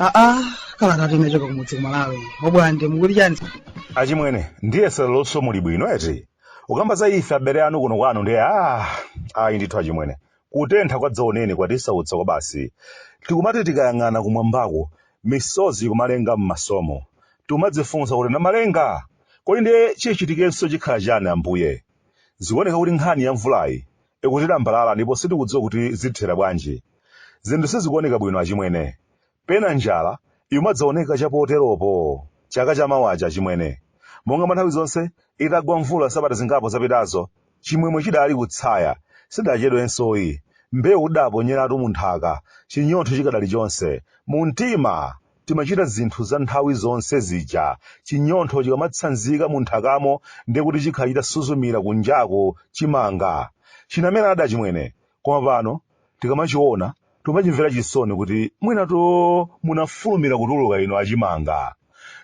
aa kala tati imachokera kumudzi kumalawi obwande mukuli chani achimwene ndiye sa leronso muli bwino eti ukamba za ife abale anu kuno kwanu ndiye ah ayi ndithu achimwene Kutentha kwadzaoneni kwatisautsa kwabasi. Tikumati tikayang'ana kumwambaku, misozi ikumalenga m'masomu. Tikumadzifunsa kuti Namalenga! Kodi ndiye chichitikenso chikhala chani Ambuye? Zikuoneka kuti nkhani ya mvulayi ikutilambalala ndipo sitikudziwa kuti zitithera bwanji. Zinthu sizikuoneka bwino achimwene. Pena njala imadzaoneka chapoteropo. Chaka cha mawachi, achimwene, monga mwa nthawi zonse, itagwa mvula sabata zingapo zapitazo, chimwemwe chidali kutsaya. Sidachedwensoyi. Mbewu tidaponyeratu mu nthaka, chinyontho chikadali chonse. Mu mtima timachita zinthu za nthawi zonse zija. Chinyontho chikamatsanzika mu nthakamo ndiye kuti chikhala chitasuzumira kunjaku, chimanga. Chinameradi, achimwene, koma pano tikamachiona timachimvera chisoni kuti mwinatu munafulumira kutuluka inu achimanga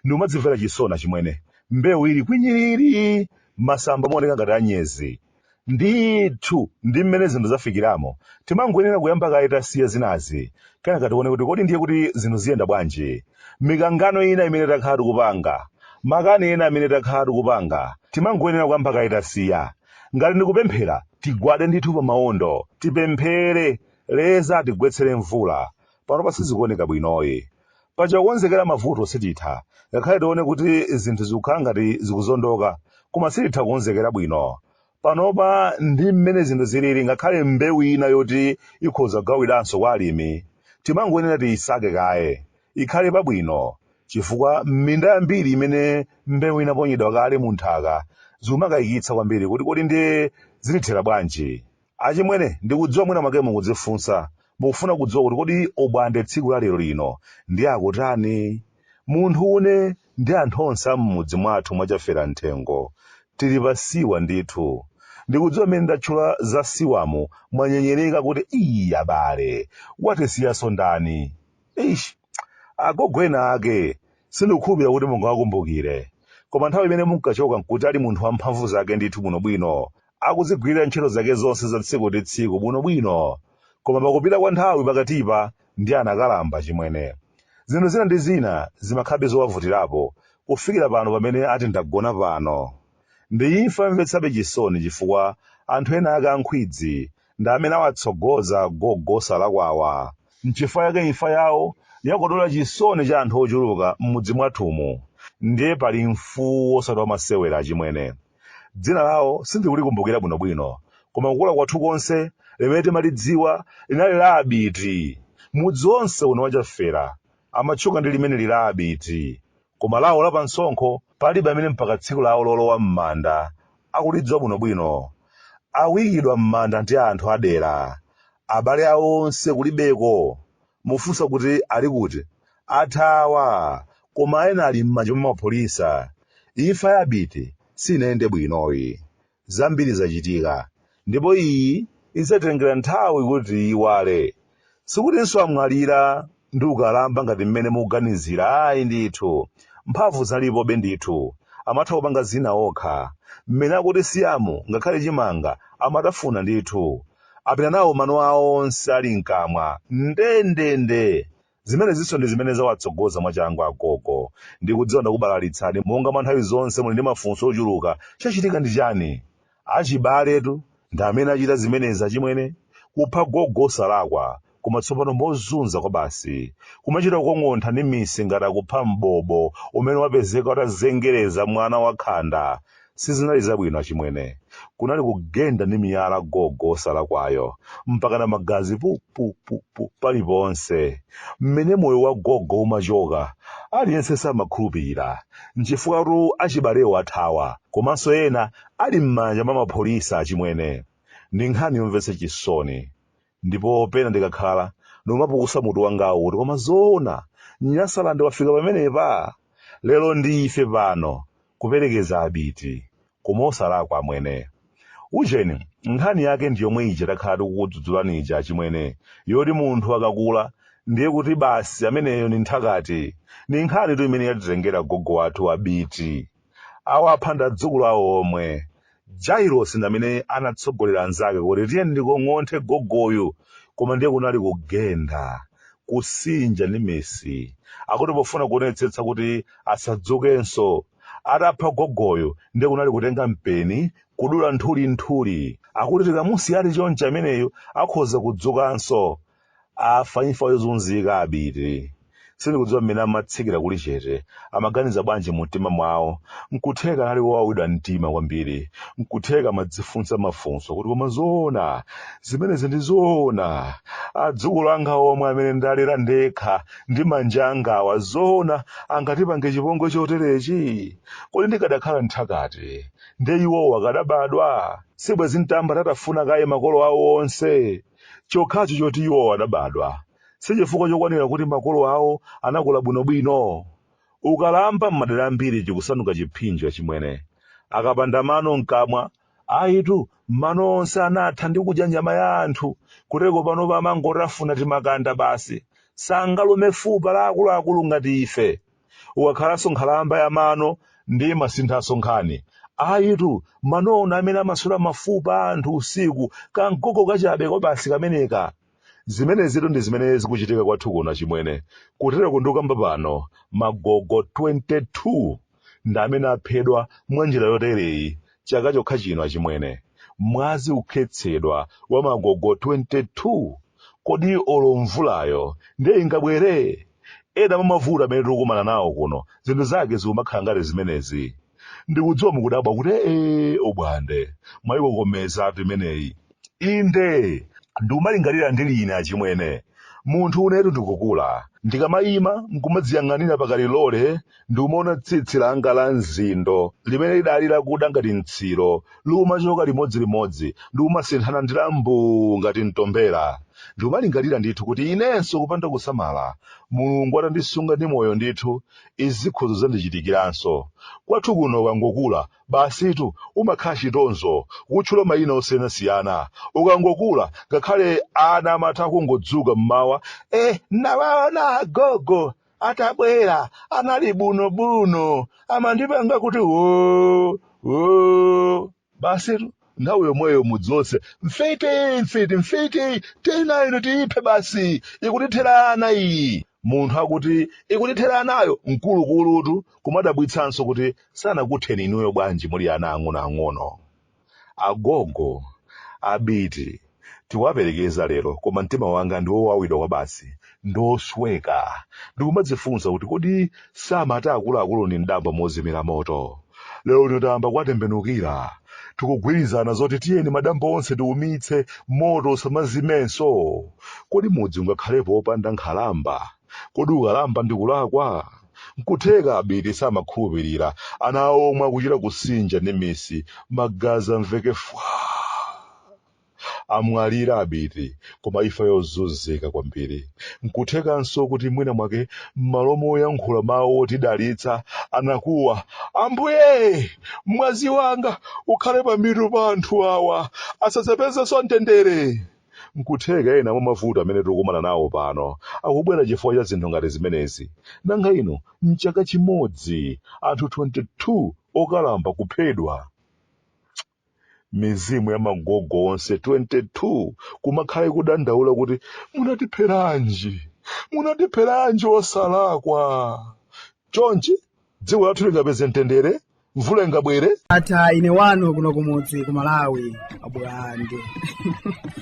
ndikumadzimvera chisoni achimwene mbewu ili kwinyiriri masamba mooneka ngati anyezi ndithu ndi mmene zinthu zafikiramo timangoyenera kuyamba kaye tasiya zinazi kenaka tione kuti kodi ndiye kuti zinthu ziyenda bwanji mikangano ina imene takhala tikupanga makani ena amene takhala tikupanga timangoyenera kuyamba kaye tasiya ngati ndikupemphera tigwade ndithu pa maondo tipemphere leza atigwetsere mvula panopa sizikuoneka bwinoyi paja kukonzekera mavuto sititha ngakhale tione kuti zinthu zikukhala ngati zikuzondoka koma sititha kukonzekera bwino panopa ndi mmene zinthu zilili ngakhale mbewu ina yoti ikhoza kugawidwanso kwa alimi timangoyenera tiyisake kaye ikhale pabwino chifukwa m'minda yambiri imene mbewu inaponyedwa kale mu nthaka zikumakayikitsa kwambiri kuti kodi ndiye zilithera bwanji. Achimwene, ndikudziwa mwina mwake mukudzifunsa, mukufuna kudziwa kuti kodi obwande tsiku la lero lino ndiye akutani? Munthu une ndi anthu onse a m'mudzi mwathu mwa Chafera Mthengo tili pa siwa ndithu. Ndikudziwa mmene ndatchula za siwamu mwanyenyereka kuti ii abale, watisiyanso ndani? Eish, agogo ena ake sindikukhulupirira kuti mungawakumbukire. Koma nthawi imene munkachoka n'kuti ali munthu wamphamvu zake ndithu bwinobwino, akudzigwirira ntchito zake zonse za tsiku ndi tsiku bwinobwino. Koma pakupita kwa nthawi pakatipa ndiye anakalamba, chimwene. Zinthu zina ndi zina zimakhalabe zowavutirapo kufikira pano pamene ati ndagona pano. Ndi imfa yomvetsabe chisoni chifukwa anthu ena ake a nkhwidzi ndi amene awatsogoza gogo osalakwawa. Nchifukwa chake imfa yawo yakodola chisoni cha anthu ochuluka m'mudzi mwathumu. Ndiye pali mfuwu osati wamasewera achimwene. Dzina lawo sindikulikumbukira bwinobwino, koma kukula kwathu konse limene timalidziwa linali la Abiti. Mudzi wonse uno wa Chafera amatchuka ndi limeneli la Abiti. koma lawo la pamsonkho palibe amene mpaka tsiku lawo lolowa m'manda akulidziwa bwinobwino. Akuikidwa m'manda ndi anthu adera. Abale awo onse kulibeko. Mufunsa kuti ali kuti? Athawa! Koma ena ali m'manja mwa mapolisa. Imfa ya Abiti sinayende bwinoyi. Zambiri zachitika, ndipo iyi idzatengera nthawi kuti tiiyiwale. Sikutinso amwalira ndi ukalamba ngati mmene mukuganizira ayi ndithu, mphamvu zinalipobe ndithu, amatha kupanga zina okha, mmene akutisiyamu ngakhale chimanga amatafuna ndithu, apita nawo mano awo onse ali mkamwa ndendende Zimenezinso ndi zimene zawatsogoza mwachangu agogo. Ndikudziwa ndakubalalitsani, monga mwa nthawi zonse muli ndi mafunso ochuluka. Chachitika ndi chani? Achibaletu ndi amene achita zimenezi achimwene? Kupha gogo wosalakwa, koma tsopano mozunza kwabasi. Kumachita kukong'ontha ndi misi ngati akupha mbobo umene wapezeka utazengereza mwana wakhanda. Sizinali zabwino achimwene. Kunali kugenda ndi miyala gogo wosalakwayo, mpakana magazi pu pu pu pu paliponse. Mmene moyo wa gogo umachoka, aliyense samakhulupirira. Nchifukwatu achibalewo athawa, komanso ena ali m'manja mwa mapolisa achimwene. Ndi nkhani yomvetsa chisoni. Ndipo pena ndikakhala, ndimapukusa mutu wangawu kuti koma zoona, Nyasaland wafika pamenepa? Lero ndi ife pano. Kuperekeza abiti, koma osalakwa amwene. Ujeni, nkhani yake ndi yomwe ija takhala tikukudzudzulani ija achimwene, yoti munthu akakula ndiye kuti basi ameneyo ndi nthakati. Ndi nkhanitu imene yatitengera gogo wathu Abiti. Awapha ndi adzukulu awo omwe. Jailosi ndamene anatsogolera anzake kuti tiyeni tikong'onthe gogoyu koma ndiye kunali kugenda, kusinja ndi misi akuti pofuna kuonetsetsa kuti asadzukenso. Atapha gogoyo ndiye kunali kutenga mpeni kudula nthuli nthuli. Akuti tikamusiya ali chonchi ameneyu akhoza kudzukanso. Afa imfa yozunzika abiti. Sindikudziwa mmene amatsikira kulichete. Amaganiza bwanji mumtima mwawo? N'kutheka anali wowawidwa mtima kwambiri. N'kutheka amadzifunsa mafunso kuti koma zoona? Zimenezi ndi zoona? Adzukulu anga omwe amene ndalera ndekha ndi manja angawa zoona angatipange chipongwe choterechi? Kodi ndikadakhala mthakati, ndiye iwowo akadabadwa? Sibwenzi n'tayamba ndatafuna kaye makolo awo onse? Chokhacho choti iwowo adabadwa si chifukwa chokwanira kuti makolo awo anakula bwinobwino. Ukalamba m'madera ambiri chikusanduka chiphinjo, achimwene. Akapanda mano m'kamwa, ayitu, mano onse anatha ndi kudya nyama ya anthu, kuteko panopa amangotafuna timakanda basi. Sangalume fupa la akuluakulu ngati ife! ukakhalanso nkhalamba ya mano ndiye amasinthanso nkhani ayitu manowo ndi amene amaswera mafupa a anthu usiku kam'gogo kachabe kabasi kameneka zimenezitu ndi zimene zikuchitika kwathu kuno chimwene kutereko ndikukamba pano magogo 22 ndi amene aphedwa mwa njira yotereyi Chaka chokha chino achimwene, mwazi kukhetsedwa wa magogo 22. Kodi olo mvulayo ndiye ingabwere? Ena mwa mavuto amene tikukumana nawo kuno zinthu zake zikumakhala ngati zimenezi. Ndikudziwa mukudabwa kuti ee Obwande, mwayikokomezatu imeneyi. Inde, ndikumalingalira ndili ine achimwene, munthunetu ndikukula. Ndikamaima n'kumadziyang'anira pakalilole ndikumaona tsitsi langa la mzindo limene lidali lakuda ngati mtsiro likumachoka limodzilimodzi ndikumasinthana ndi la mbuu ngati mtombera, ndikumalingalira ndithu kuti inenso kupanda kusamala, Mulungu atandisunga ndi moyo ndithu, izi zikhoza kudzandichitikiranso. Kwathu kuno ukangokula Basitu, umakhala chitonzo kutchula mayina osiyanasiyana. Ukangokula, ngakhale ana amatha kungodzuka m'mawa, Eh, n'nawaona agogo atabwera, anali buno-buno, amandipanga kuti woo, woo. Basitu, nthawi yomweyo mudzi wonse, Mfiti! Mfiti! Mfiti! Tiyeni nayo ino, tiiphe basi, ikutithera ana iyi. munthu akuti ikutithera anayo mkulukulutu kumadabwitsanso kuti sanakutheni inuyo bwanji muli ana ang'onoang'ono agogo abiti tikuwaperekeza lero koma mtima wanga ndi wowawidwa kwabasi ndosweka ndikumadzifunsa kuti kodi samati akuluakulu ndi mdambo mozimira moto lero lino tayamba kuwatembenukira tikugwirizana zoti tiyeni madambo onse tiumitse moto usamazimenso kodi mudzi ungakhalepo wopanda nkhalamba kodi ukalamba ndi kulakwa nkutheka abiti samakhulupirira ana awo omwe akuchita kusinja ndi minsi magazi amveke fwa amwalira abiti koma imfa yozunzika kwambiri nkuthekanso kuti mwina mwake m'malo moyankhula mawu otidalitsa anakuwa ambuye mwazi wanga ukhale pamitu pa anthu awa asadzapezenso mtendere nkutheka ena mwa mavuto amene tikukumana nawo pano akubwera chifukwa cha zinthu ngati zimenezi nanga ino mchaka chimodzi anthu 22 okalamba kuphedwa mizimu ya magogo onse 22 kumakhala ikudandaula kuti munatipheranji munatipheranji osalakwa chonchi dziko lathu lingapeze mtendere mvula ingabwere ndatha ine wanu kuno kumudzi ku malawi abulande